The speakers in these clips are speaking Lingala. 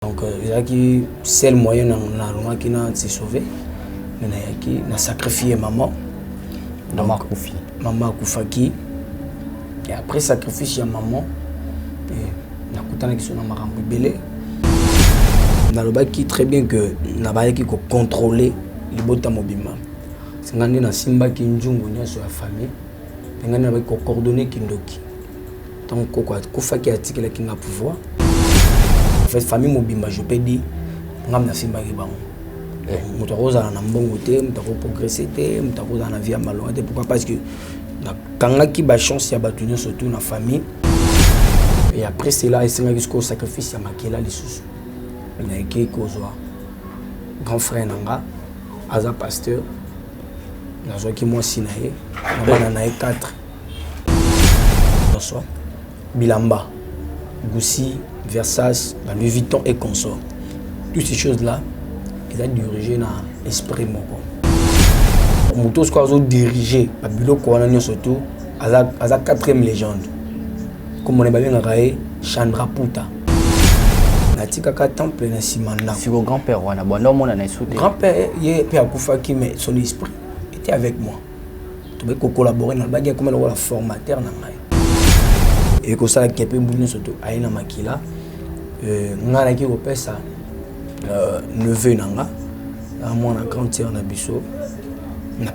donc euh, ezalaki seul moyen nalongaki na se sauver me nayaki na sacrifie maman mama akufi mama akufaki et après sacrifice ya maman nakutanaki so na makambo ebele nalobaki très bien que nabayaki kocontrôle libota mobimba ngai nde nasimbaki nzungu nyonso ya famille mpe ngai nabaki kocoordonne kindoki Tant koko akufaki atikelaki nga pouvoir. En fait famille mobimba je peux dire nga na simbaki bango. Eh. Moto akozala na mbongo te, moto ako progresser te, moto akozala na vie ya malonga te. Pourquoi? Parce que nakangaki ba chance ya bato nyonso tout na famille. Et après cela esengaki sikoyo sacrifice ya makila lisusu. Nayaki kozwa grand frère na nga aza pasteur nazwaki mwasi na ye na bana na ye 4 nyonso bilamba gusi versas na louis vuitton et consort tout ces choses là eza dirige na esprit moko moto soko azodirige babiloko wana nyonso tu aza, aza quatrième légende komona babengaka ye chandra puta natikaka temple na nsima ndako grand père wana banda omona na esu te grand père ye mpe akufaki mais son esprit était avec moi tokoki ko collaborer na baki akoma lokola formateur na ngai et ko sala kepe bu nyonso to aye na makila euh, ngai naki kopesa euh, neveu na nga na mwana grande sœur na biso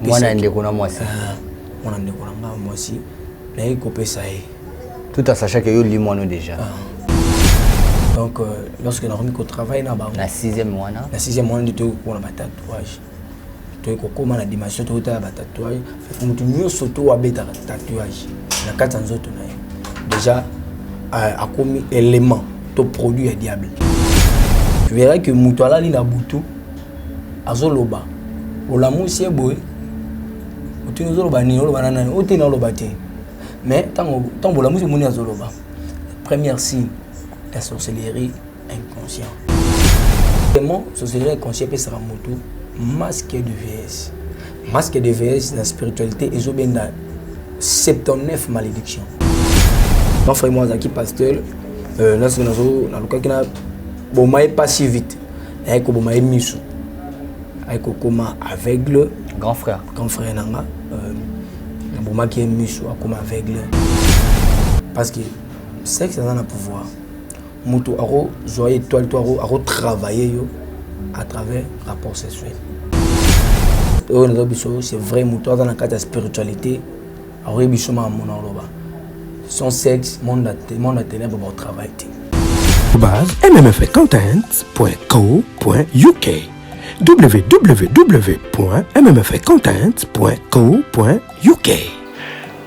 mwana ndeko na mwasi ah, mwana ndeko na nga mwasi naye kopesa ye tout à sachant que yo limwano déjà ah. donc euh, lorsque nakomi kotravaille na bango na sixième wana na sixième wana nde toyokona batatouage toye kokoma na dimension tokotala ba tatouage parce que moto nyonso to abetaka tatouage na kati ya nzoto na ye déjà euh, akomi élément to produit ya diable tu verras que moto alali na butu azoloba olamusi ye boye otuni ozoloba nini oloba na nani oteni oloba te mais ntango bolamusi omoni azoloba première signe ya sorcellerie inconscient vraiment sorcellerie inconscient epesaka motu masque de vs masque de vs na spiritualité ezobenda 79 malédiction ma frère moi azalaki pasteur euh, nasoki nazo nalukaki na boma ye pas si vite ayaki koboma ye miso ayaki kokoma aveugle grand frère grand frère na nga euh, nabomaki ye miso akoma aveugle parce que sexe aza na pouvoir mutu ako zwa etoile to ako ako travailler yo à travers rapport sexuel oyo nazo biso c'est vrai mutu aza na kati ya spiritualité akoyebi biso ma mona oloba sans sexe monde ya monde ya ténèbre ba travail te base mmfaccountant.co.uk www.mmfaccountant.co.uk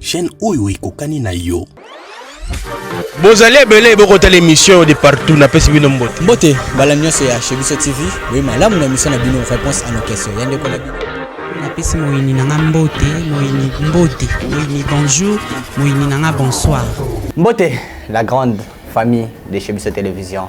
chaîne oyo ekokani na yo bozali ebele bokotala émission de partout napesi bino mbote mbote bala nyonso ya chez biso tv boye malamu na émission na bino réponse à nos questions ya ndeko na bino napesi moyini na nga mbote moyini mbote moyini bonjour moyini na nga bonsoir mbote la grande famille de chez biso télévision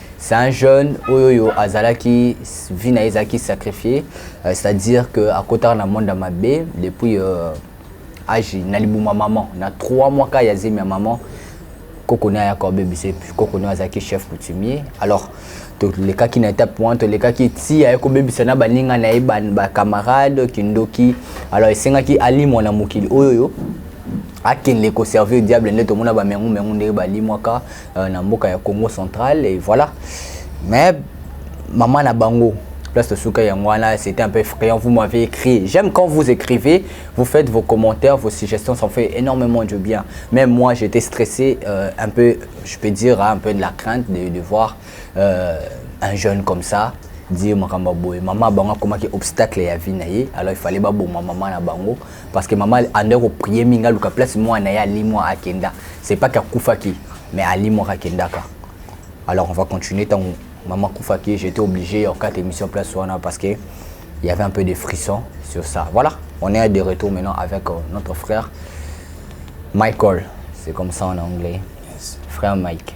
c'est un jeune oyo yo azalaki vie na ye ezalaki sacrifié euh, c'est à dire que akotaka na monde ya mabe depuis euh, age na libuma maman na 3 mois ka ya zemi ya maman koko ne ayaka obebisa epuis koko ne azalaki chef coutumier alors tolekaki na étape wana tolekaki ti aye kobebisa na baninga na ye bacamarade kindoki alors esengaki alimwa na mokili oyo oyo akende koservir diable nde tomona bamengumengu ndenge balimwaka euh, na mboka ya Congo central et voilà mais maman na bango place de Souka Yangwana, c'était un peu effrayant. Vous m'avez écrit. J'aime quand vous écrivez, vous faites vos commentaires, vos suggestions, ça me fait énormément du bien. Même moi, j'étais stressé, euh, un peu, je peux dire, hein, un peu de la crainte de, de voir euh, un jeune comme ça dire makambo boye maman bango akomaki obstacle ya vie na ye alors il fallait baboma maman na bango parce que mama andaki koprie mingi aluka place mwana na ye alimwa akenda c'est pas que akufaki mais alimwaka akendaka alors on va continuer ntango mama akufaki j'étais obligé ya okata émission place wana parce que il y avait un peu de frisson sur ça voilà on est de retour maintenant avec euh, notre frère Michael c'est comme ça en anglais yes. frère Mike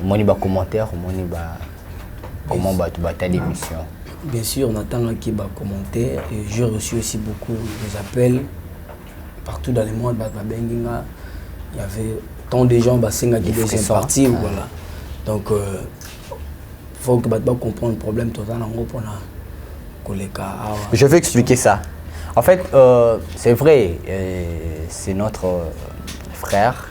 omoni ba commentaire omoni ba comment bato batali émission bien sûr natangaki ba commentaire et j'ai reçu aussi beaucoup des appels partout dans le monde bato babengi nga il y avait tant de gens basengaki deuxième partie ah. voilà donc euh, faut que bato bacomprendre problème toza nango mpona koleka awa ah je vais expliquer ça en fait euh, c'est vrai euh, c'est notre euh, frère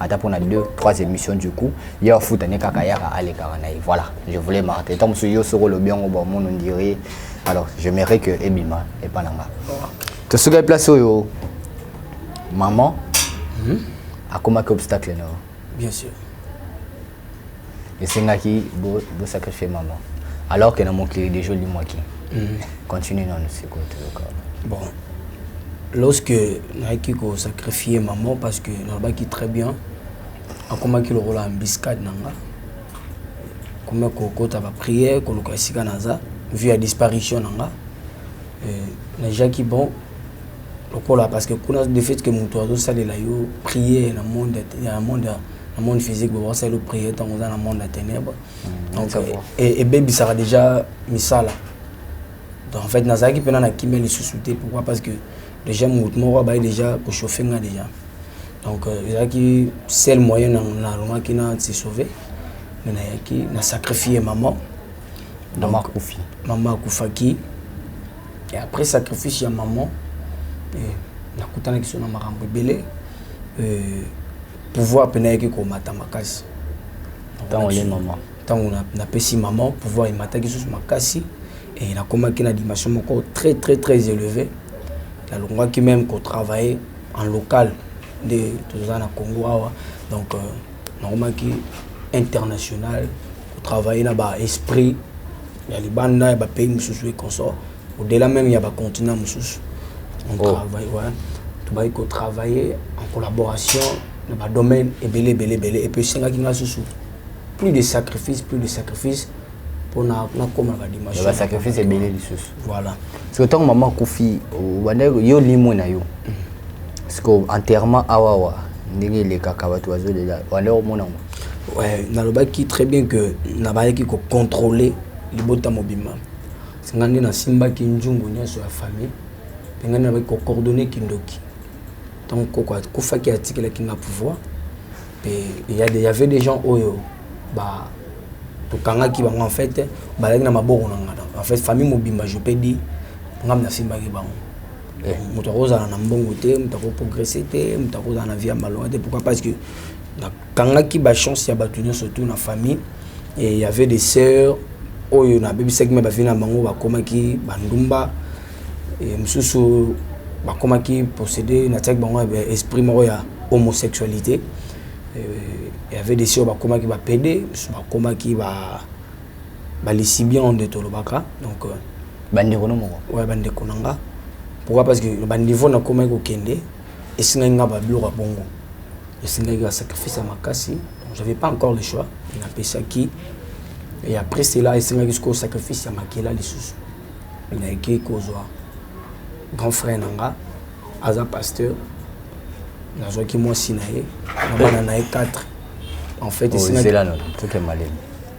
ata mpo na deux trois émission du coup ye afuta ne kaka yaka alekaka na ye voilà je voulais marquer ntango mosusu yo soki olobi yango bomon ondire alors j'aimerais que ebima epa na nga tosukaki place oyo maman hmm? akomaki obstacle na yo bien sûr esengaki bo, bo sacrifier maman alors que na mokili deja olimwaki mm. continue nanu sikoyo toyoka bon lorsque nayaki kosacrifie maman parce que nalobaki très bien akomaki lokola embiscade na nga komi kokota baprière koluka esika naza vu ya disparition na nga euh, najaki bon lokola parce que kuna de fait que moto azosalela yo prière na monde ya na monde physique boye bakosalela priere ntango oza na monde ya ténèbre mm, donc ebebisaka déjà misala donc en fait nazalaki mpena na kimia lisusu te pourquoi parce que déjà motu moko abaye déjà kochauffe nga déjà donc euh, ezalaki seul moyen nalongaki na se sauver me nayaki na sacrifie maman mama akufi mama akufaki et après sacrifice ya maman eh, nakutanaki so na makambo ebele eh, pouvoir pena yaki ko mata makasi tango ye maman tango na na pesi maman pouvoir emataki sous makasi et na komaki na dimension moko très très très élevé na longaki même ko travailler en local de toza na Congo awa donc euh, na komaki international ko travailler na ba esprit ya libanda ya ba pays mususu et consort au delà même ya ba continents mosusu on oh. travaille ouais. tobaki kotravailler en collaboration na badomaine ebele ebele ebele epuis esengaki ngai susu plus de sacrifice plus de sacrifice mpo nakoma badimension basacrifice ebele lisusu voilà siko ntango mama akufi obandaki yo limwe na yo mm. siko enterrement awawa ndenge elekaka bato bazolela obandaki komona yango nalobaki très bien que nabayaki kocontrôler libota mobimba Nga nde nasimbaki nzungu nyonso ya famille mpe nga nde nabaki kocoordonne kindoki ntango koko akufaki atikelaki nga pouvoir mpe ya avait des gens oyo ba tokangaki bango en fait bazalaki na maboko na nga en fait famille mobimba je peux dire nga nasimbaki bango eh. moto akozala na mbongo te moto akoprogresse te moto akozala na vie ya malonga te pourquoi parce que nakangaki bachance ya bato nyonso tout na famille et il y avait des sœurs oyo na bebisaki mais ba vie na bango ba komaki ba ndumba et mususu ba komaki posséder na tiaki bango ba esprit moko ya homosexualité euh, il y avait des sœurs ba komaki ba pede mususu ba komaki ba ba lesibien on de tolobaka donc euh, ba ndeko no moko ouais ba ndeko na nga pourquoi parce que ba niveau na komaki kokende esingaki nga ba biloko bongo Esengaki ba sacrifice ya makasi, donc j'avais pas encore le choix, napesaki et après cela esengaki sikoyo sacrifice ya makila lisusu, nayaki kozwa grand frère na nga aza pasteur, nazwaki mwasi na ye na bana na ye 4 en fait esengaki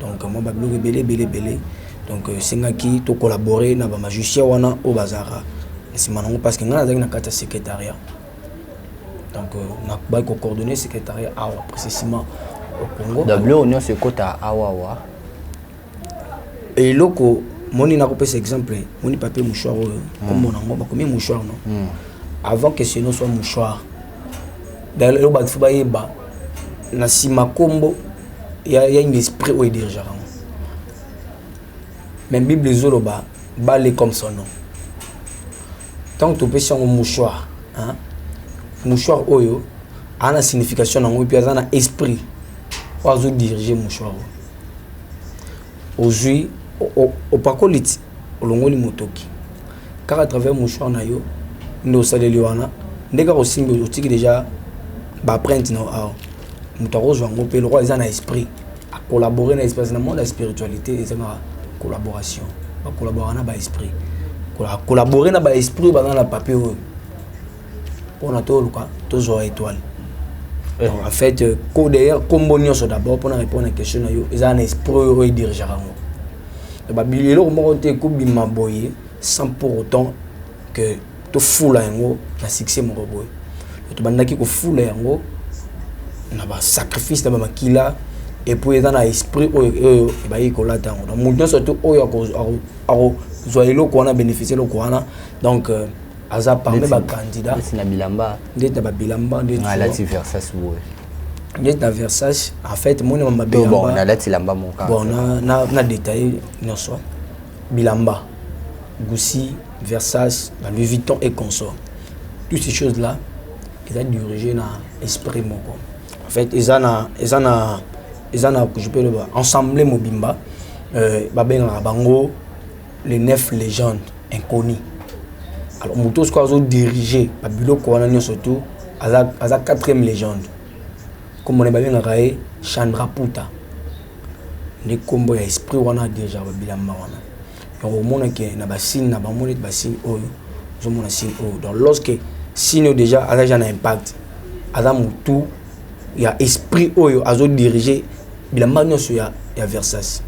donc mwa ba biloko ebele ebele ebele donc esengaki to collaborer na ba magicien wana oyo bazalaka nsima nango parce que ngai nazalaki na kati ya secrétariat donc euh, nakobaki kocoordonne secrétariat awa précisément au congo biloko nyonso ekota awawa eloko moni nakopesa exemple moni papier mouchoir oyo hmm. komona yango bakomi mouchoir no hmm. avant que ce nom soit mouchoir eloko bato fo bayeba na nsima nkombo ya ya une esprit oyo dirigeaka yango mais bible ezoloba bale comme son nom ntango topesi yango mouchoir hein? mouchoir oyo aza na signification na yango mpe aza na esprit oyo azodirige mouchoir oyo ozwi opakoli ti olongoli motoki kaka travers mouchoir na yo nde osaleli wana nde kaka osimbi otiki deja baprinte na awa moto akozwa yango mpe lokola eza na esprit akollabore na esprit na monde ya spiritualité ezanga collaboration bakollabora na baesprit akollabore na baesprit oyo baza na papier oyo pona toluka tozwa étoile eh. donc en fait euh, ko d'ailleurs kombo nyonso d'abord pona répondre na question na yo eza na esprit oyo oyo edirigeaka yango babili eloko moko te ekobima boye sans pour autant que tofula yango na succès moko boye tobandaki kofula yango na basacrifice na bamakila epuis eza na esprit oyo oyo ebayei kolata yango donc moto nyonso te oyo akozwa eloko wana bénéficie eloko wana donc euh, aza parmi ba candidat ndeti na bilamba ndeti na ba bilamba ndeti na lati versace boye ndeti na versace en fait moni ma bilamba bon na lati lamba mon cas bon na na, na détailler nyonso bilamba Gucci versace la Louis Vuitton et consorts toutes ces choses là eza dirigé na esprit moko en fait eza na eza na eza na je peux le voir ensemble mobimba euh, babengaka bango le neuf legende inconnu alors moto sikoyo azodirige babiloko wana nyonso tu aza, aza quatrième legende nkombo na babengaka ye chandra puta nde nkombo ya esprit wana adirigaka babilamba wana donc omona ke na basine na bango neti basine oyo ozomona sine oyo donc lorsque sine oyo déjà aza ja na impact aza motu ya esprit oyo azodirige bilamba nyonso ya, ya Versace.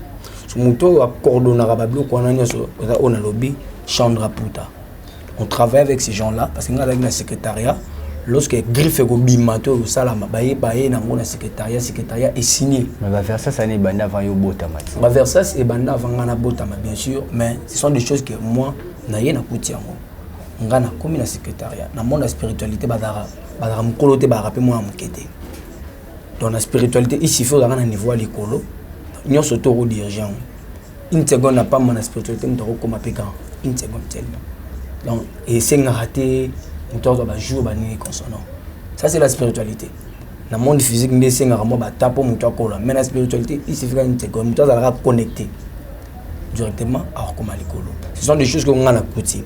So, moto oyo akordonaka babiloko wana nyonso eza oyo nalobi Chandra Puta. On travaille avec ces gens-là parce que ngai azalaki na secrétariat lorsque griffe ekobima to ekosalama baye baye nango na secrétariat secrétariat esigne mais baversas ani ebanda avant yo obotama ti baversas ebanda avant ngai nabotama bien sûr mais ce sont des choses que moi naye nakuti yango ngai nakomi na secrétariat na monde ya spiritualité bazalaka bazalaka mokolo te bazalaka mpe mwana moke te donc na spiritualité il suffit ozalaka na niveau ya likolo nyonso to okodirige yango une seconde apamba na spiritualité moto akokoma mpe grand une seconde tellement donc esengaka te moto azwa bajour banini consonant ça c'est la spiritualité na monde physique nde esengaka mwa bata mpo moto akola mais na spiritualité il suffika une seconde moto azalaka connecté directement akokoma likolo ce sont des choses que ngai nakuti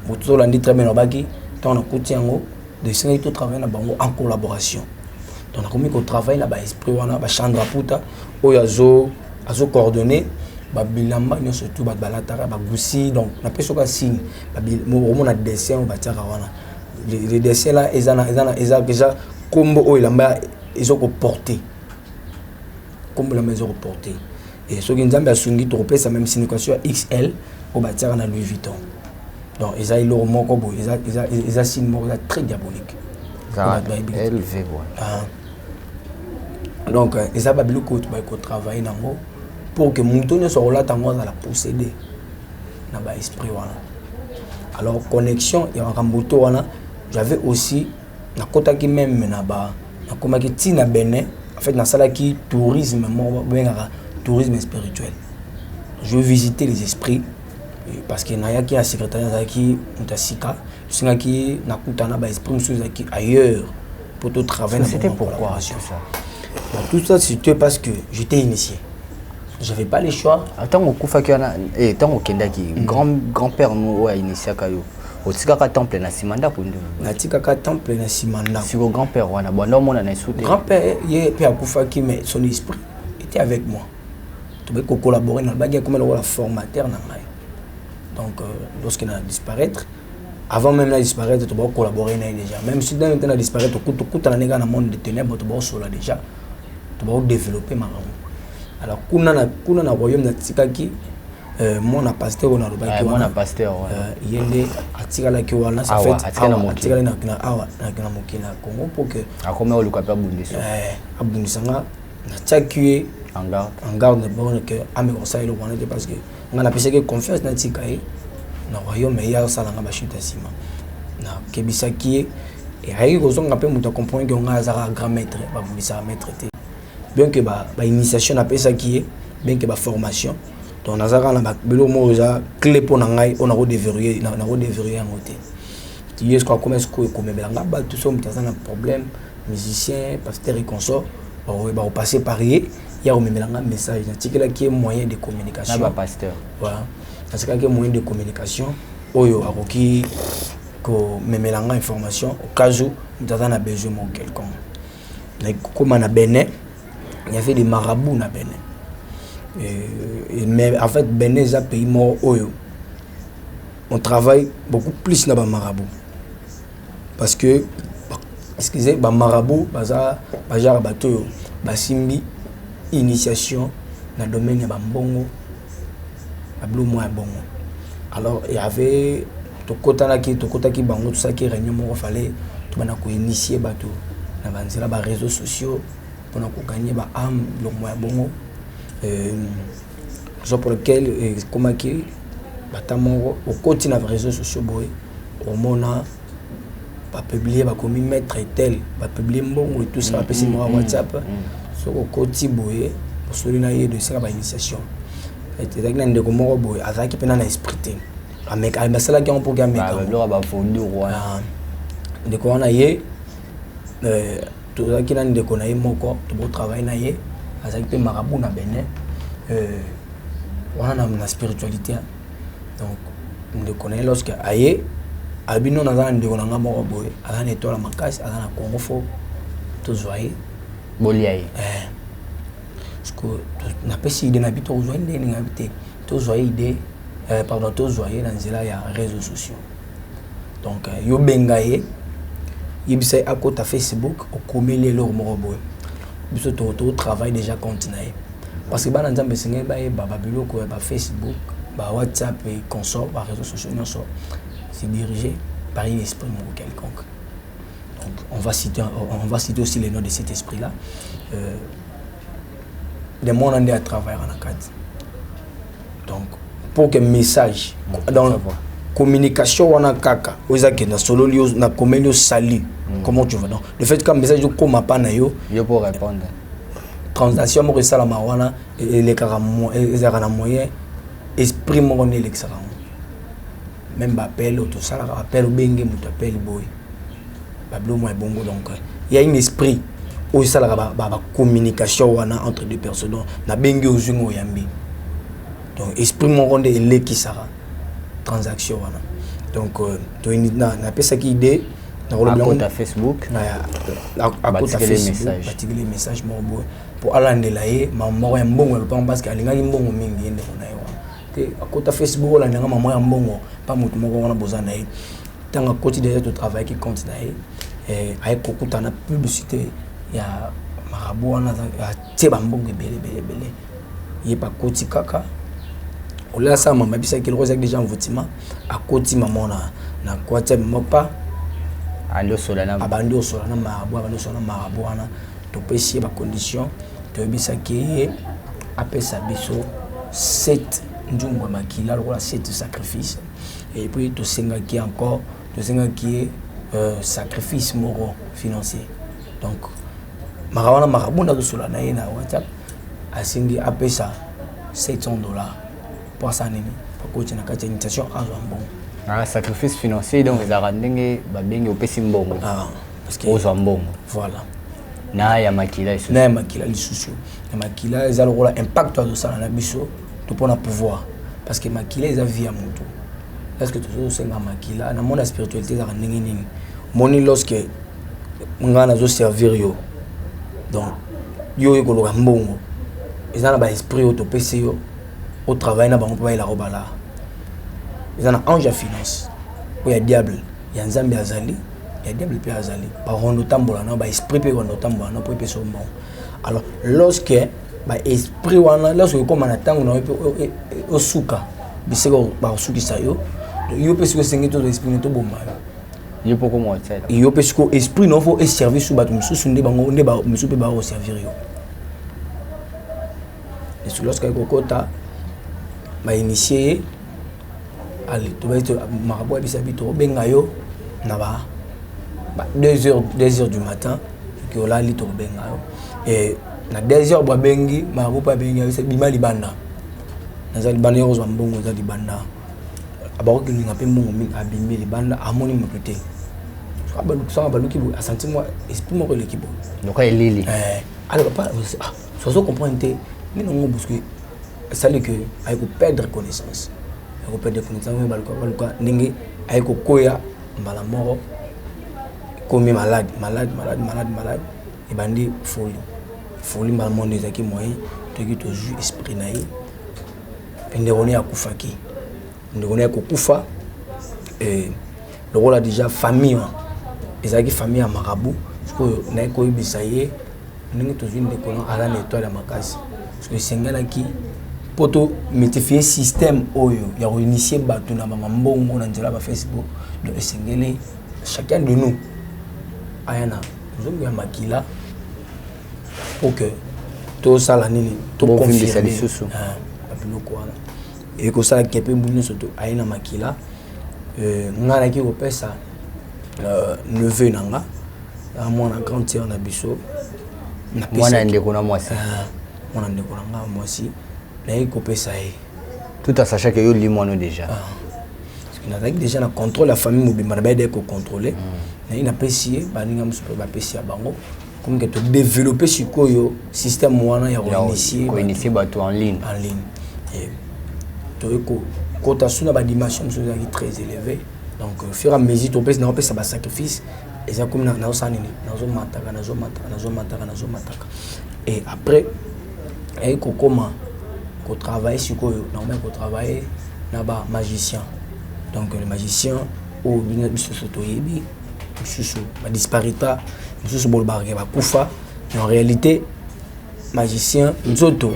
moto tolandi très bien nabaki ntango nakuti yango de esengaki totravaille na bango en collaboration donc nakomi kotravaille na baesprit wana bachandra puta oyo azo azo coordonner babilamba nyonso tu bato balataka bagusi donc napesi oka signe omona dessin oyo batiaka wana le dessin la eza na eza na eza eza kombo oyo elamba ezo koporte kombo elamba ezo koporte Et soki Nzambe asungi tokopesa même signification ya XL oyo batiaka na Louis Vuitton. Donc eza eloko moko boye eza eza eza signe moko eza très diabolique. Eza élevé boye. Ah. Donc euh, eza ba biloko oyo tobaki kotravaille nango pour que moto nyonso akolata yango azala possédé na ba esprit wana. Alors connexion ya makambo to wana j'avais aussi nakotaki meme na ba nakomaki ti na Benin en fait nasalaki tourisme moko bengaka tourisme spirituel je visiter les esprits parce que nayaki na secrétaire azalaki moto ya sika tosengaki nakutana ba esprit mosusu ezalaki ailleurs mpo to travaille na pourquoi tout ça Bon, tout ça c'était parce que j'étais initié j'avais pas le choix ntango ah, okufaki wana ntango eh, okendaki mm. grand père nous oyo ainitiaka yo otikaka temple na nsima ndako nde natikaka temple na nsima ndako siko grand père wana banda omona na esu te grand père ye mpe akufaki mais son esprit était avec moi tobaki kocollabore na baki akoma lokola formateur na ngai donc euh, lorsque na disparaître avant même na disparaître tobaki collaborer na ye déjà même si nani te na disparaître tokutana ne kaka na monde de ténèbre tobaki osola déjà tobaki développer makambo alors kuna na kuna na royaume natikaki Euh, mwana pasteur oyo nalobaki wana euh, ye nde atikalaki wana atikali na awa na mokili ya congo mpo ke akomi oluka mpe abundisa euh, abundisa nga natiaki ye en garde borne ke ameka kosala eloko wana te parce que nga napesaki confiance natika ye na royaume ye asala nga bashute ya nsima nakebisaki ye ayaki kozonga mpe moto acomprendre ke ngai azaka grand maître babundisaka maître te bien ke bainitiation napesaki ye bien ke baformation donc naza kaka na biloko moko eza cle mpo na ngai oyo nako deverrouille nako deverrouille yango te tiye soko akoma sikoyo ekomemela ngai bato so moto aza na problème musicien pasteur et consort bakoye bakopasse par ye ya komemela ngai message natikelaki ye moyen de communication na bapasteur voilà natikelaki ye moyen de communication oyo akoki komemela ngai information au cas où moto aza na besoin moko quelconque Mais comme na Bénin, il y avait des marabouts na Bénin. Et, mais en fait, Bénin est un pays mort oyo. On travaille beaucoup plus na ba marabouts. Parce que excusez, ba marabouts baza ba genre bato basimbi initiation na domaine ya ba mbongo na bilo mwa ya bongo alors il y avait tokotanaki tokotaki bango tosalaki réunion moko fallait tobanda koinitie bato na banzela ba réseaux sociaux mpona koganye ba ame biloko mwa ya bongo raison pour lequel ekomaki bata moko okoti na réseaux sociaux boye omona euh, ba publier ba komi maitre tel ba publier mbongo et tout ça ba pesi moi WhatsApp so ko koti boye osoli na ye de sala ba initiation et ezalaki na ndeko moko boye azalaki pena na esprit te ameka ah, basalaki yango mpo ameka ah, ndeko wana ye euh, tozalaki na ndeko na ye moko tobotravaille na ye azalaki mpe marabu na benin euh, wana na spiritualité donc ndeko na ye lorsque aye abi nono aza na ndeko na ngai moko boye aza na etoile makasi aza na congo fo tozwa ye bolia ye eh. napesi ide na bi tokozwa ye ndenge nini abi te tozwa ye ide eh, pardon tozwa ye na nzela ya réseau sociaux donc yo benga ye yebisa ye akota facebook okomeli eloko moko boye biso to travaille déjà compte na ye parce que bana nzambe esengeli bayeba babiloko ya ba facebook ba whatsapp et consort ba réseau sociaux nyonso se dirige par une esprit moko quelconque donc on va citer, on va citer aussi les noms de cet esprit là euh, le mwana nde atravaillaka na kati donc pour que message mm, donc communication wana kaka oyo eza kenda sololi yo na komeli yo salut mm. comment tu vas donc le fait ka message okoma pa na yo yo pour répondre transaction moko esalama wana elekaka ezalaka na moyen esprit moko nde elekisaka yango meme ba appel oyo tosalaka ba appel obenge moto appel boye babiloko mwa ebongo donc ya une esprit oyo esalaka bacommunication wana entre deux personnes donc nabengi ozwi ngo oyambi donc esprit moko nde elekisaka transaction wana donc euh, napesaki idée nakolobiakota facebook batikeli message moko boye mpo alandela ye mama moko ya mbongo ya lopango parce que alingaki mbongo mingi ye ndeko na ye te akota facebook olanda nga mama ya mbongo mpa moto moko wana boza na ye ntango akoti deja totravaillaki compte na ye eh, aye kokutana publicité ya marabu wana atie bambongo ebele ebele ebele ye mpe akoti kaka olasa mama bisaki loko ezalaki deja envoutima akoti mama na na kwatiami moko mpa abandi osola na marabu abandi osola na marabu wana Topesi ye ba conditions, toyebisaki ye apesa biso sept nzungu ya makila lokola sept sacrifice et puis tosengaki ye encore tosengaki ye euh, sacrifice moko financier donc maka wana makabu nazosola na ye na whatsapp asengi apesa 700 dollars mpo asala nini akoti na kati ya initiation azwa mbongo ah, sacrifice financier donc ezalaka ndenge babengi opesi mbongo ah. ozwa mbongo voilà na ya makila lisusu na ya makila lisusu ya makila eza lokola impact azosala na biso to mpo na pouvoir parce que makila eza vie ya moto est ce que tozosenga makila na mona spiritualité ezalaka ndenge nini moni lorsque ngai nazoservir yo donc yo oye koloka mbongo eza na baesprit oyo topesi yo otravaille na bango mpo bayelaka obala eza na ange ya finance oyo ya diable Ya Nzambe azali, ya diable pe azali. Ba rondo tambola na ba esprit pe rondo tambola na po pe so mbongo. Alors lorsque ba esprit wana lorsque okoma na tango na yo pe osuka bisika ba osukisa yo yo pe siko sengi to esprit to boma yo. Yo pe okoma tsela. Yo pe siko esprit na fo e servir sous bato mosusu nde bango nde ba mosusu pe ba o servir yo. Et lorsque ekokota ba initier marabout ya bisabi tokobenga yo na ba 2 heures du matin soki olali tokobenga yo e na 2 heures bo abengi marabout mpe abengi ayosa bima libanda naza libanda yo kozwa mbongo oza libanda abakokilinga mpe mbongo mingi abimi libanda amoni moto te abalukisaka baluki boye asanti mwa esprit moko eleki boye noka elili eh, alors papa ah, Ozo comprendre te nini ngo bousque esali que aye ko perdre connaissance aye ko perdre connaissance ngo baluka baluka ndenge aye ko koya mbala moko komi malade malade malade malade malade ebandi folie folie mbala moko nde ezalaki moyen toki tozwi esprit na ye mpe ndeko ne akufaki ndeko ne akokufa eh, lokola deja famille wana ezalaki famille ya marabu sikoyo naye koyebisa ye ndenge tozwi ndeko na aza na etoile ya makasi soki esengelaki mpo to multifie système oyo ya koinitie bato na bamambongo na nzela ya bafacebook donc esengeli chacun de nous aya na nzongo ya makila mpo ke tosala nini toconfirme ah, biloko wana ekosala kepe mbu nyonso aye na makila euh, nga naki kopesa euh, neveu na nga na mwana grande sœur na biso mwana ndeko na mwasi ah, mwana ndeko na nga mwasi nayaki kopesa ye tout à sachant que yo limwano déjà ah. nazalaki déjà na contrôle ya famille mobimba na bayedaki kocontrôle mm. naye napesi ye baninga mosusu mpe bapesi ya bango comme que to développer sikoyo système wana ya ko initier bato en ligne en ligne et to ko kota sous na ba dimension mosusu ezalaki très élevé donc au fur et à mesure topesi na kopesa ba sacrifice eza komi nazosala nini nazomataka nazomataka nazomataka nazomataka et après ayei kokoma kotravaille sikoyo nakomaki kotravaille na ba magicien donc le magicien oyo biso biso toyebi mosusu ba disparita mosusu bolobaka ke bakufa en réalité magicien nzoto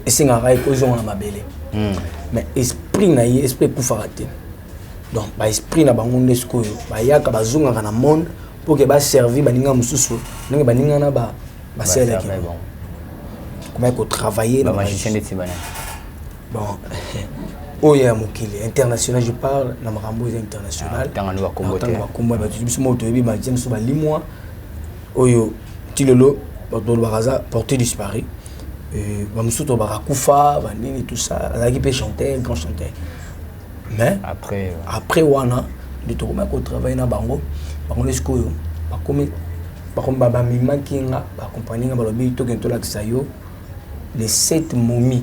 esengaka ye kozonga na mabele hmm. mais esprit na ye esprit ekufaka te donc baesprit na bango nde sikoyo bayaka bazongaka na monde mpo ke baservi baninga mosusu ndenge baninga na basalelaki komaki kotravaille na magicien bon oyo ya mokili international je parle na makambo eza international ah, tanga ndoka kombo te tanga kombo ba biso mo toyebi ba james ba limwa oyo tilolo ba tolo bakaza portée disparu euh ba musuto ba kufa ba nini tout ça azaki pe chanter grand chanteur mais après euh, après wana de to ko travailler na bango bango les koyo ba komi ba komi ba ba mimaki nga ba compagnie nga ba lobi to kento la kisayo les sept momies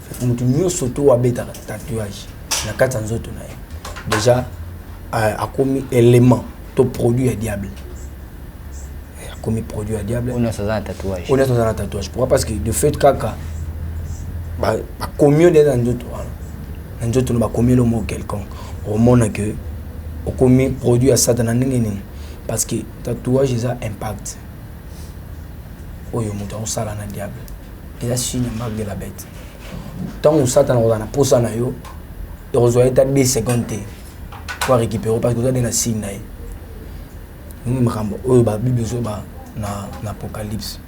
moto nyonso to oyo abetaka tatouage na kati ya nzoto na ye déjà euh, akomi élément to produit ya diable eh, akomi produit ya diable oyo nyonso aza na tatouage pourquoi parce que de fait kaka bakomi yo nde na nzoto wana na nzoto na bakomi elo moko quelconque omona ke okomi produit ya satana ndenge nini parce que tatouage eza impact oyo moto akosala na diable eza signe ya marque de la bête ntango satana akozala na mposa na yo ekozwa ye ta 2 seconde te po arécupere parce que oza nde na signe na ye nini makambo oyo babible ezoba na, na apocalypse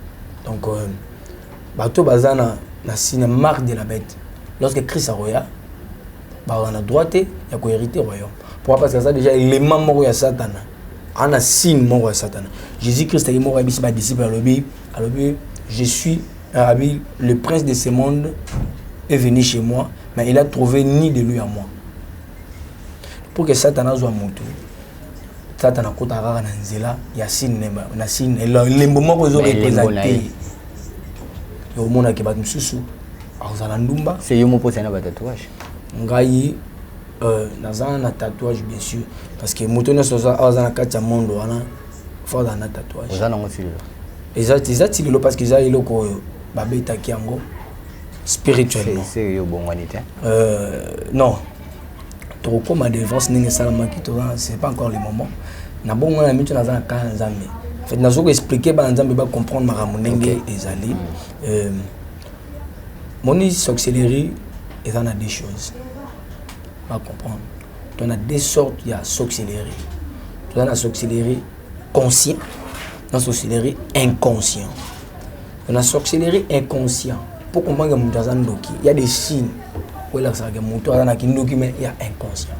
donc euh, bato baza na, na signe marque de la bête lorsque christ akoya bakozala na droit te ya kohérite royaume pourquoi parce que aza déjà élément moko ya satana ana signe moko ya satana jésus christ ayaki moko ayebisi badisciple alobi alobi je suis arabi le prince de ce monde est venu chez moi mais il a trouvé ni de lui à moi pour que satana azwa motu satana akotaka kaka na nzela ya signe na signe elembo moko ezo represente omonake bato mosusu akozala ndumba se yo moposa na batatouage ngai Euh, naza na tatouage bien sûr parce que moto nyonso awa aza na kati ya monde wana fo azala na tatouage oza nango tilelo eza eza tilelo parce que eza eloko oyo babetaki yango spirituellement yo obongwani te euh, non tokokoma devance ndenge esalamaki toza c'est pas encore le moment na bongo na mito naza na kala ya nzambe en fait nazo koexplike bana nzambe bacomprendre makambo ndenge ezali mm. euh, moni sorcellerie eza na deux choses ba comprendre to na deux sortes ya sorcellerie toza na sorcellerie conscient na sorcellerie inconscient to na sorcellerie inconscient mpo kombange moto aza ndoki ya des signes oyo elakisaka ke moto aza na kindoki me ya inconscient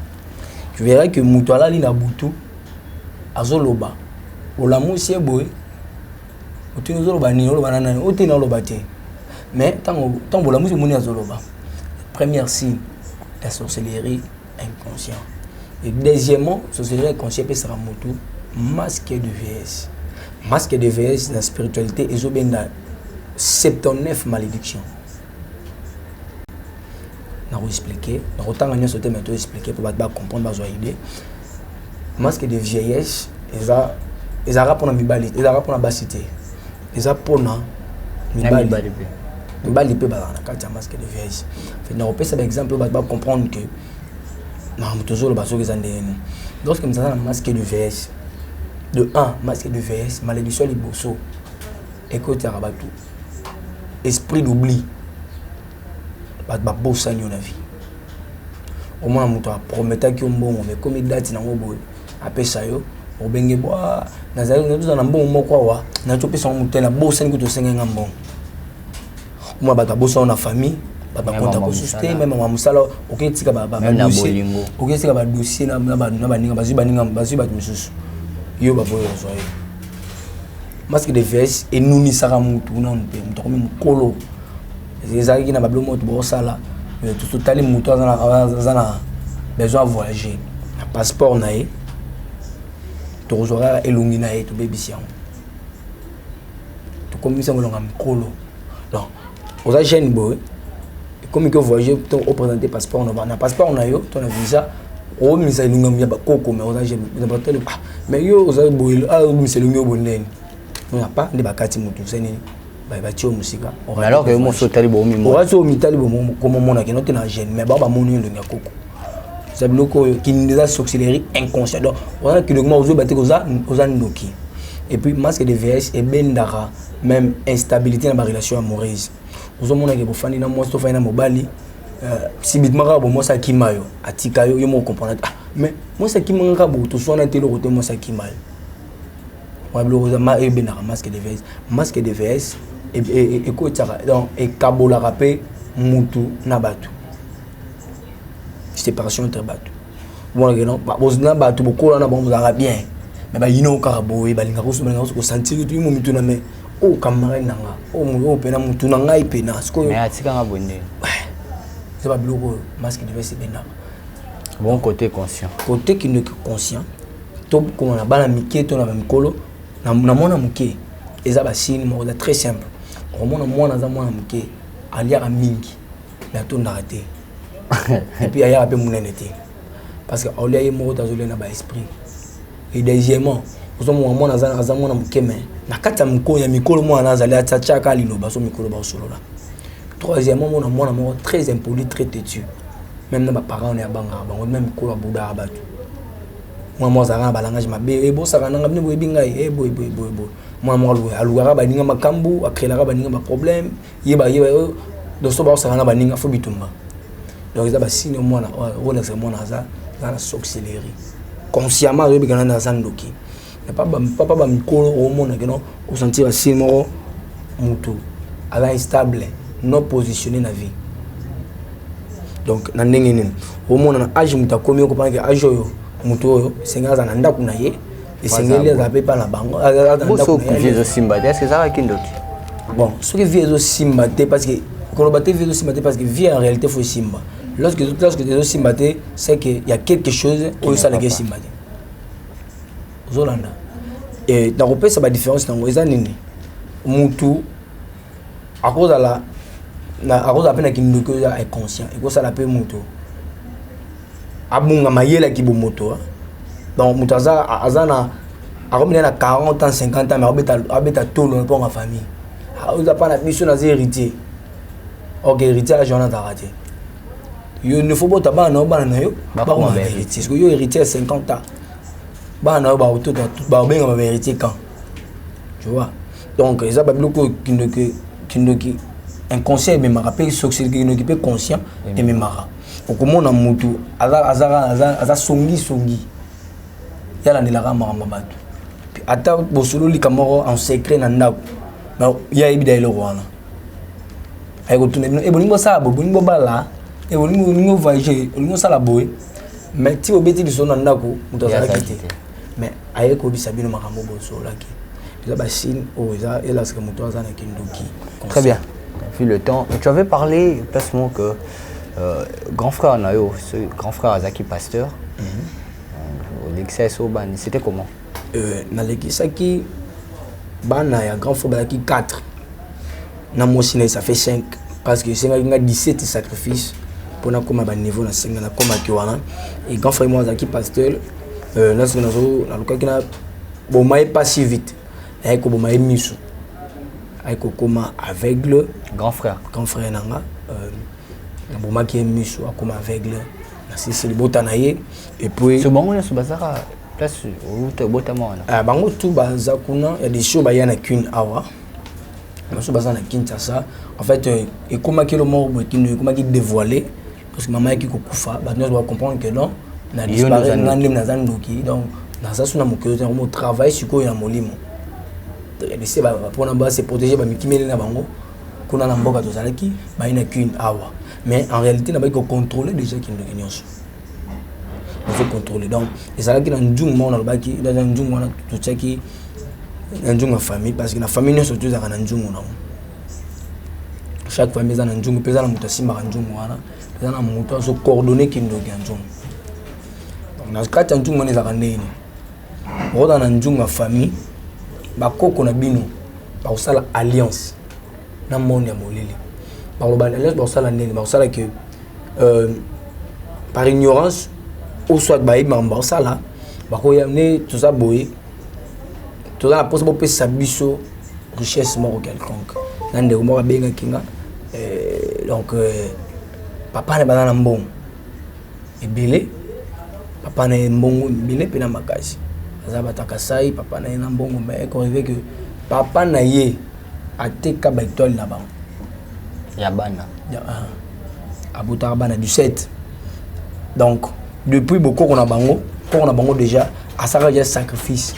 tu verra ke moto alali na butu azoloba olamusi ye boye otuni ozoloba nini oloba na nani ote na oloba te mais ntango ntango bolamusi omoni azoloba première signe ya sorcellerie inconscient et deuxièmement sorcellerie inconscient epesaka motu masque de vieillesse masque de vieillesse na spiritualité ezobenga 79 malédiction nako expliquer nakotanga nyonso te mais to expliquer mpo bato bacomprendre bazwa idée masque de vieillesse eza ezalaka mpona mibali ezalaka mpona basi te eza mpona mibali mibali mpe bazala na kati ya masque de vieillesse fe nakopesa baexemple oyo bato bacomprendre que makambo tozoloba soki eza ndenge nini lorsque mozala na masque de vieillesse de 1 masque de vieillesse malédiction liboso ekotiaka bato esprit d'oubli batu ba bosani yo na vie omona mutu a prometaki yo mbongo mais ekomi date nango boye apesa yo obenge bwa nazali nazozala na mbongo moko awa nazali kopesa yango motu te nabosani kutu osengai nga mbongo omona bato abosana na famille bato bakonta kosusu te meme ma mosala okoki tika badossier okoki tika badossier na baninga bazwi baninga bazwi bato mosusu yo baboyi ozwa yo masque de vs enunisaka mutu nanu te moto akomi mokolo ezalaki na ba biloko moto bosala mais totali moto aza na besoin ya voyager na passeport na ye tokozwa kaka elongi na ye tobebisi yango tokomisi yango elonga mikolo donc oza jeune boye ekomi ke voyager to opresente passeport na na passeport na yo to na visa omisa elongi ya bakoko mais oza jeune mais yo oza boye omisa elongi yo bonene nga pa nde bakati mutu se nini batie yo mosika alors que mosi otali boomioasi omitali komomona kino te na gene mais bao bamoni elongi ya koko eza biloko oyo kinini eza sorcellerie inconscient donc oza na kidokima ozoyeba te oza ndoki et puis masque de vs ebendaka même instabilité na barelation amoureuse ozomonake bofandi na mwasi tofandi na mobali euh, subitement kaka bomwasi akima yo atika yo yo moko comprendre ah, mais mwasi akima nga kaka botoswana te eloko te mwasi akima yo wana biloko eza ma ebendaka masque de vs masque de vs ekotisaka donc ekabolaka mpe mutu na bato séparation entre bato omonake non na bato bokola na bango bozalaka bien me bayinao kaka boye balinga kosantiri tuimo mitu na me oyo oh, camarade na nga oyo oh, oh, mpena motu na ngai mpena sikoyoatikanga boye nde eza babiloko oyo masque de vs ebendaka bon côté conscient côté kindoki conscient tokoma na bana mike to na bamikolo na mwana moke eza basini moko eza très simple okomona mwana aza mwana moke aliaka mingi me atondaka te epuis ayaka mpe monene te parce que aolia ye moko te azolia na baesprit et deuxièmement ozomona mwana aza mwana moke me na kati ya mikolo mwana azali atiaka liloba so mikolo baosolola troisièmement mona mwana moko très impoli très têtu même na baparent na ya bangaka bango na mikolo abudaka bato mwa mwa azalaka na balangage mabe e eh, bosakana nga bino boyebi ngai e eh, boye boye boye boye mwa mwa alukaka baninga makambo akrelaka baninga baproblème yeba yeba yo donc so baosakana na baninga fo bitumba donc eza basini mwana olakisa mwana aza aza na sorcellerie consciemment azoyebika nani aza ndoki papa ba mikolo omona keno osentir asili moko mutu aza instable non positionne na vie donc na ndenge nini omona na age moto akomi okopana ke age oyo moto oyo esengeli aza na ndako na ye esengeli aza mpe epa na bango vie ezosimba te eske ezalaka kindoki bon soki vie ezosimba te parce que koloba te vie ezosimba te parce que vie en réalité fo esimba lorsque ezosimba te c'est que ya quelque chose oyo esalaki esimba te ozolanda e, nakopesa badifference nango eza nini mutu akozala akozala mpe na kindoki oza inconscient ekosala mpe moto abunga mayele ya kibomoto ah. donc moto aza aza na akomina na 40 ans 50 ans mais abeta tolo na mponga famille ah, oza mpa na biso naza héritier ok héritier ya journal azalaka te yo ne faut bota bana na yo bana na yo bakoma ba héritier yo héritier ya 50 ans bana na yo bakotota bakobenga ba verité quand tu vois donc eza babiloko oyo kindoki kindoki inconscient ememaka mpe soki kindoki mpe conscient ememaka okomona motu aza songisongi ye alandelaka makambo ya bato ata bosololi ka moko en secret na ndako ye ayebi da eloko wana ayekotuna bino eh, bolingi bosala boye bolingi bobala eh, bolingi bolingi ovage olingi osala boye mais ti obeti lisolo na ndako moto azalaki te mais aye koyebisa bino makambo bosolaki eza bachine oyo oh, eza elaske moto aza na kindoki très bien vu le temps tu avais parlé placement que euh, grand frère na yo ce grand frère azalaki pasteur mhm. euh, olekisa eso bani c'était comment euh, nalekisaki bana ya grand frère bazalaki 4 na mwasi na ye ça fait 5 parce que esengaki nga 17 sacrifice mpo nakoma baniveau na senga nakomaki wana e grand frère moi azalaki pasteur euh, nasoki nazo nalukaki na boma ye pas si vite ayaki koboma ye miso ayaki kokoma aveugle grand frère grand frère na nga euh, nabomaki ye miso akoma aveugle nasisi libota na ye epuis bango nyonso bazaka place obotama wana ah, bango tu baza kuna ya desio baya na kune awa basusu baza na kinshasa en fait euh, ekomaki elo moko boye kino ekomaki dévoilé parce que mama yaki kokufa bato nyonso bacomprendre que non na disparaitre nga ndemi naza ndoki donc naza su na mokili te yango travaille sikoyo na molimo bise mpona base protéger bamikimeli na bango kuna na mboka tozalaki bayi na kine awa mais en réalité nabaki kocontrôle déjà kindoki nyonso faut contrôler donc ezalaki na nzungu moko nalobaki na nzungu wana totiaki na nzungu ya famille parce que na famille nyonso tozalaka na nzungu nango chaque famille eza na nzungu mpe eza na moto asimbaka nzungu wana eza na moto azo coordonne kindoki ya nzungu donc na kati ya nzungu wana ezalaka ndenge nini okota na nzungu ya famille bakoko na bino bakosala alliance na monde ya molili bakoloba alliance bakosala ndenge bakosala ke euh, par ignorance ou soit bayebi makambo bakosala bakoya ne toza boye toza na mposa bopesa biso richesse moko quelconque na ndeko moko abengaki nga euh, donc euh, papa na baza na mbongo ebele papa na ye mbongo ebele mpe na makasi aza bataka sai papa na ye na mbongo me ekorive ke papa na ye ateka baetoile na bango ya bana ya, uh, abotaka bana 17 donc depuis bokoko na bango koko na bango déjà asalaka ya sacrifice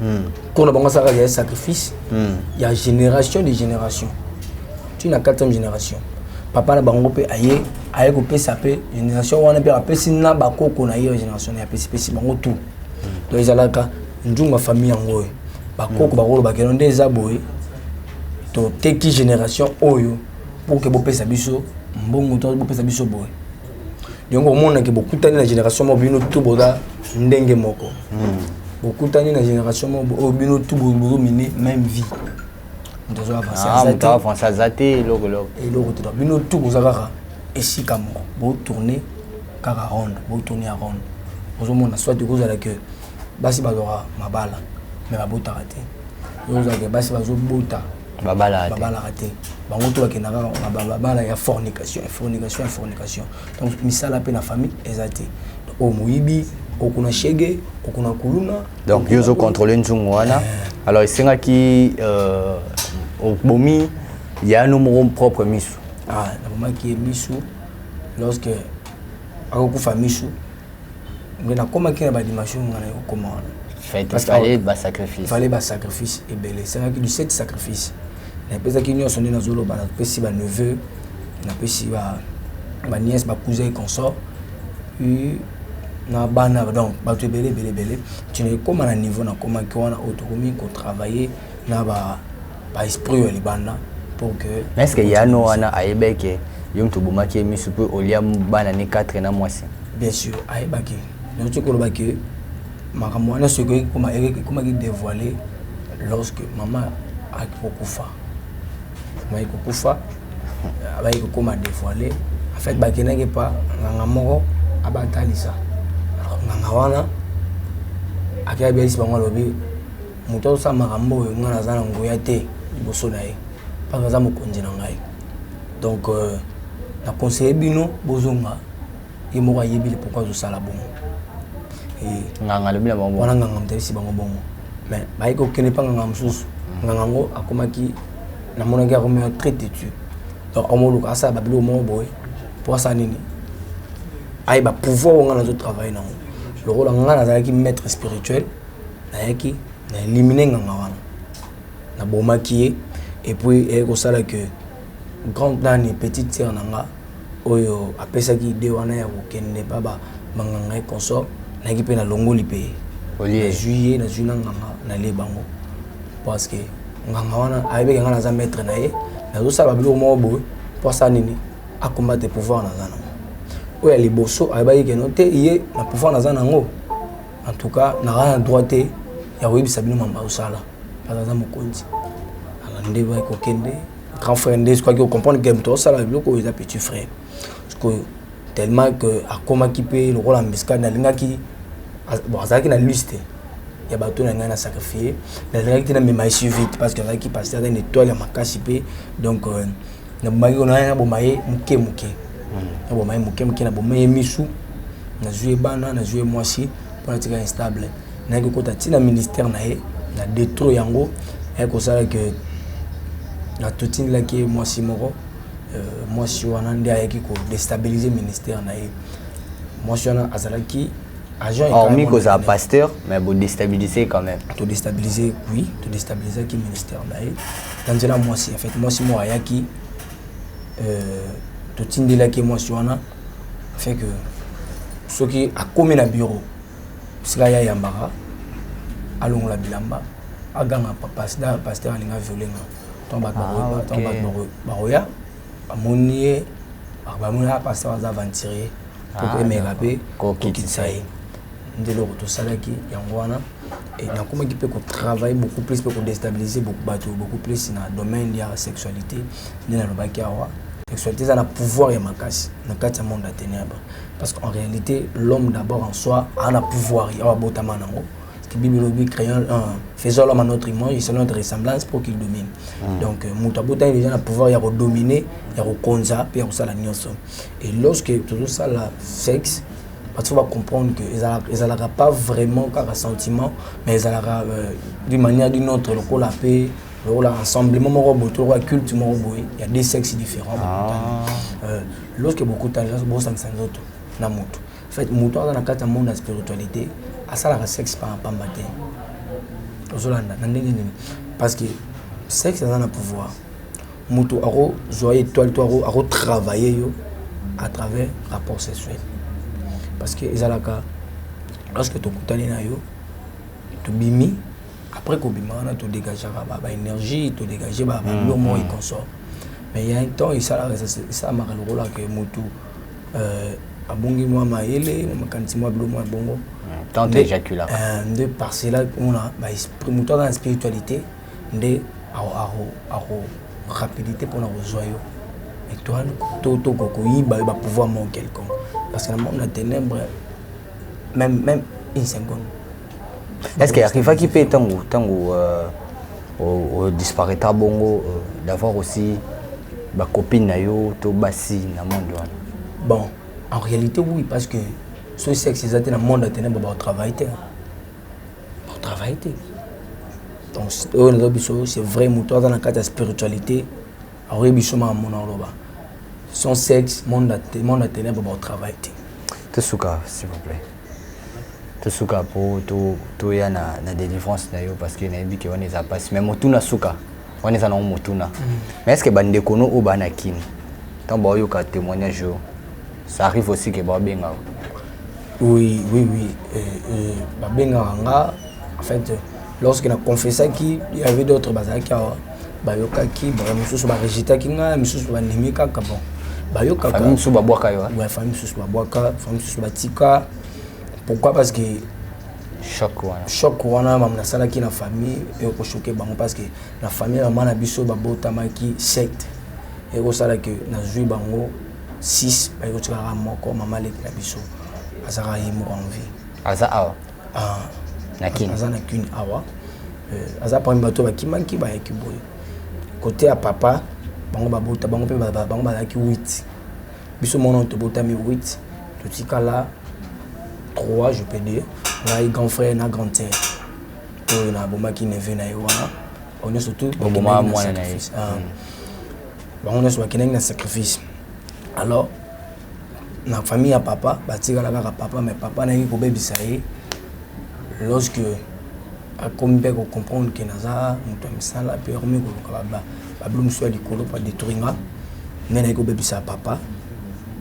hmm. koko na bango asalaka ya sacrifice hmm. ya génération de génération ti na 4e génération papa na bango mpe aye aye kopesa mpe génération wana mpe apesi na bakoko na ye ya génération naye apesipesi bango tout hmm. donc ezalaka nzunga famille yango oyo bakoko bakolobakeno nde eza boye toteki génération oyo pour que bopesa biso mbongo to bopesa biso boye donc omona ke bokutani na génération moko bino tout boza ndenge moko hmm. bokutani na génération moko oyo oh, bino tout bozomine même vie moto azo avance aza te eloko eloko te bino tout boza kaka esika moko botourne kaka ronde botourne ya ronde ozomona soit ekozala ke basi bazwaka mabala me babotaka te ozala ke basi bazobota babalaka te babalaka te bango to bakenda kaka na babala ya fornication ya fornication ya fornication donc misala mpe na famille eza te oyo moyibi okuna shege okuna kuluna donc yo ozocontrole nzungu wana eh. alors esengaki euh, obomi yano moko propre misu ah, nabomaki ye misu lorsque akokufa misu mais nakomaki na badimension ngai naye kokoma wana fallait basacrifice fallait basacrifice ebele esengaki 17 sacrifice napesaki nyonso nde nazoloba napesi baneveu napesi baniese bacousin consort na bana donc bato ebele ebele ebele ntina ekóma na niveau nakomaki wana oyo tokomi kotravailler na ba ba esprit ya libanda pour que mais est-ce que yano wana ayebeke yo mtu bomaki misu pe olia bana ne 4 na mwasi bien sûr ayebaki donc tu koloba que makambo wana soki ekoma ekomaki dévoiler lorsque maman akokufa maman akokufa abaye kokoma dévoiler en fait bakendaki pa nganga moko abatalisa nganga wana akeyabiyalisi bango alobi Moto azosala makambo oyo ngai naza na nguya te liboso na ye mpaka aza mokonzi na ngai donc euh, na conseille bino bozonga ye moko ayebi pourquoi azosala bongo nganga alobi na bango wana nganga moto ayebisi bango bongo mais baye kokende mpa nganga mosusu mm. nganga yango akomaki namonaki akomaki très têtu donc akomoluka asala babiloko moko boye mpo asala nini ayeba pouvoir oyo ngai nazo travaille nango lokola ngai nazalaki maître spirituel nayaki na eliminer nganga wana na bomaki ye et puis eyaki kosala que grande nani petite sœur na nga oyo apesaki idée wana ya kokende pa ba banganga et consort nayaki pe na longoli pe ye nazui ye nazui na nganga na lie bango parce que nganga wana ayebeke nga naza maître na ye nazosala ba biloko moko boye po asala nini a combattre pouvoir naza na ngo oyo ya liboso ayebaki keno te ye na pouvoir naza na ngo En tout cas, naza na droit te ya koyebisa bino mamba osala mpaka aza mokonzi ala nde bai kokende grand frère nde soki ocomprendre game tosala biloko oyo eza petit frère sikoyo tellement que akomaki mpe lokola mbiskani alingaki bon azalaki na liste ya bato na ngai na sacrifie mais alingaki te namema esuvi te parce que azalaki pasteur aza na étoile ya makasi mpe donc euh, nabomaki kuna ye naboma ye moke moke hmm. naboma ye moke moke naboma ye misu nazwi ye bana nazwi ye mwasi mpo natika instable nayaki kokota ntina ministère na ye na detro yango ayaki kosala ke natotindelaki ye mwasi moko euh, mwasi wana nde ayaki kodestabilize ministère na ye mwasi wana azalaki hormis kozala pasteur mais bodestabilise quand même todestabilise oui todestabilisaki ministère na ye na nzela mwasi en fait mwasi moko ayaki euh, totindelaki ye mwasi wana fait que soki akomi na bureau sika ye ayambaka alongola bilamba aganga pasteur alinga violenga ntango bato bakoya bamoni ye bamoni ah, pasteur aza aventurier ah, mpo emeka mpe kokitisa ye nde eloko tosalaki yango wana nakomaki mpe kotravaille beaucoup plus mpe kodestabilise bato beaucoup plus na domaine ya sexualité nde nalobaki awa sexualité eza na pouvoir ya makasi na kati ya monde ya ténèbre parce qu'en réalité l'homme d'abord en soi ana pouvoir ye awa abotama nango bible elobi créons euh, faisons l'homme à notre image et selon notre ressemblance pour qu'il domine mm. donc euh, moto abotami déjà na pouvoir ya kodomine ya kokonza mpe ya kosala nyonso et lorsque tozosala sexe bato fo bacomprendre que ezalaka pas vraiment kaka sentiment mais ezalaka euh, d'une manière d'une autre lokola mpe lokola rassemblement moko boye to lokola culte moko boye ya deux sexes différents ah. euh, lorsque bokutani bosangisa nzoto na moto En fait, moto aza na kati ya monde ya spiritualité asalaka sexe par pamba te ozolanda na ndenge nini parce que sexe aza na pouvoir moto akozwa étoile to akotravaille yo à travers rapport sexuel parce que ezalaka lorsque tokutani na yo tobimi après kobima wana todegageaka baénergie todegage babilomo mm, mm. et consort mais ya un temps esalamaka lokola ke motu Euh, abongi mwa mayele na makanisi mwa bilo mwa bongo tante ejaculaka euh, nde par cela omona moto aza na spiritualité nde ako rapidité mpona kozwa yo étoile to toko koyiba yo bapouvoir moko quelconque parce que na monde na ténèbre même même une seconde est ce que arrivaki mpe ntango ntango euh, disparaîtra bongo euh, d'avoir aussi bacopine na yo to basi na monde wana bon en réalité oui parce que ce sexe eza te na monde ya ténèbre baotravaille te baotravaille te donc oyo nazo biso c'est vrai moto aza na kati ya spiritualité akoki biso maka mona oloba son sexe monde ya ténèbre baotravaille te tosuka s'il vous plaît to suka po to to ya na na délivrance na yo parce que na yebi que wana eza passe mais motuna suka wana eza na ngo motuna mm. mais est-ce que ba ndeko no o ba na kin tant ba yo ka témoignage yo ça arrive aussi que ba benga oui oui oui euh, euh, ba benga nga en fait lorsque na confessaki il y avait d'autres bazalaki awa bayokaki ba mosusu ba rejetaki nga misusu ba ndimi kaka bon bayokaka famille mosusu babwaka yo ouais famille mosusu babwaka famille mosusu batika pourquoi parce que choc wana choc wana mamu nasalaki na famille ekoshoke bango parce que na famille mama na biso babotamaki secte ekosala ke nazwi bango 6 bayekotikaka moko mama leki na biso azalaka ye moko en vie aza awa Ah, na kin aza na kin awa euh, aza parmi bato bakimaki bayaki boye kote ya papa bango babota bango mpe bango bazalaki 8 biso mwana tobotami 8 totikala 3 je peux dire ngai grand frère na grande sœur oyo nabomaki neve na ye wana bango nyonso tout boboma mwana na ye ah. hmm. bango nyonso bakendaki na sacrifice alors na famille ya papa batikala kaka papa mais papa nayaki kobebisa ye lorsque akomi mpe kocomprendre ke naza moto ya misala mpe akomi koluka babilo mosusu ya likolo mpo adetruire nga nde nayaki kobebisa papa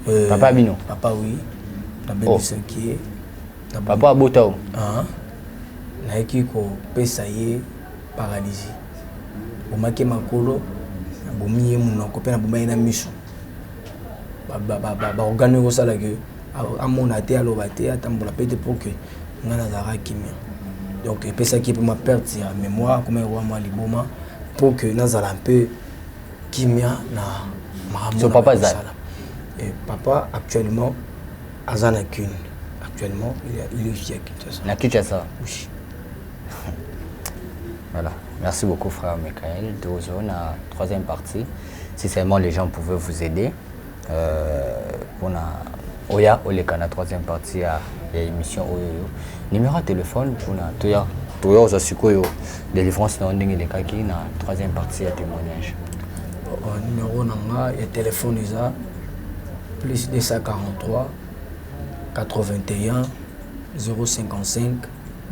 euh, papa bino papa wi nabebisaki ye oh. papa abota o ah. nayaki kopesa ye paralysie bomaki makolo nabomi ye monoko mpe naboma ye na miso baorgane oyo ekosala ke amona te aloba te atambola pe te po ke nga nazalaka kimia donc epesaki ye pe mwa perte ya memoire akomaki kowa mwa liboma po ke nazala mpe kimia na makambo oyo nazalaki kosala papa actuellement aza na kin actuellement il est ici à Kinshasa na Kinshasa oui voilà merci beaucoup frère Michael tozona troisième partie si seulement les gens pouvaient vous aider euh, pona oya oleka na troisième partie ya, ya émission oyo oyo numéro ya telefone pona toya toya ozwa sikoyo délivrance na yo ndenge elekaki na troisième partie ya témoignage euh, numéro na nga ya telefone eza plus 243 81 055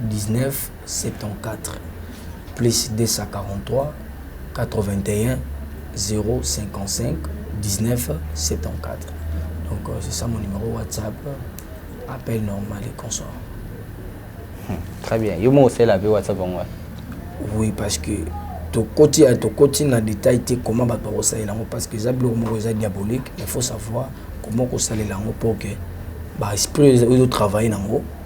19 74 plus 243 81 055 19 74 donc euh, c'est ça mon numéro whatsapp appel normal et consort hmm, très bien yo moko osala pe whatsapp yango wana oui parce que tokoti ya tokoti na détail te comment bato bakosalela yango parce que eza biloko moko eza diabolique il faut savoir comment kosalela yango pour que baesprit oyo ozotravaille na yango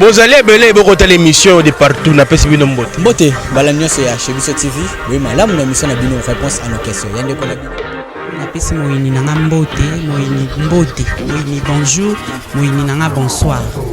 bozali ebele bokotala émission de partout napesi bino mbote mbote mbala nyonso ya chez biso tv boye malamu na émission na bino réponse à nos questions ya ndeko na bino napesi moyini na nga mbote moyini mbote moyini bonjour moyini na nga bonsoir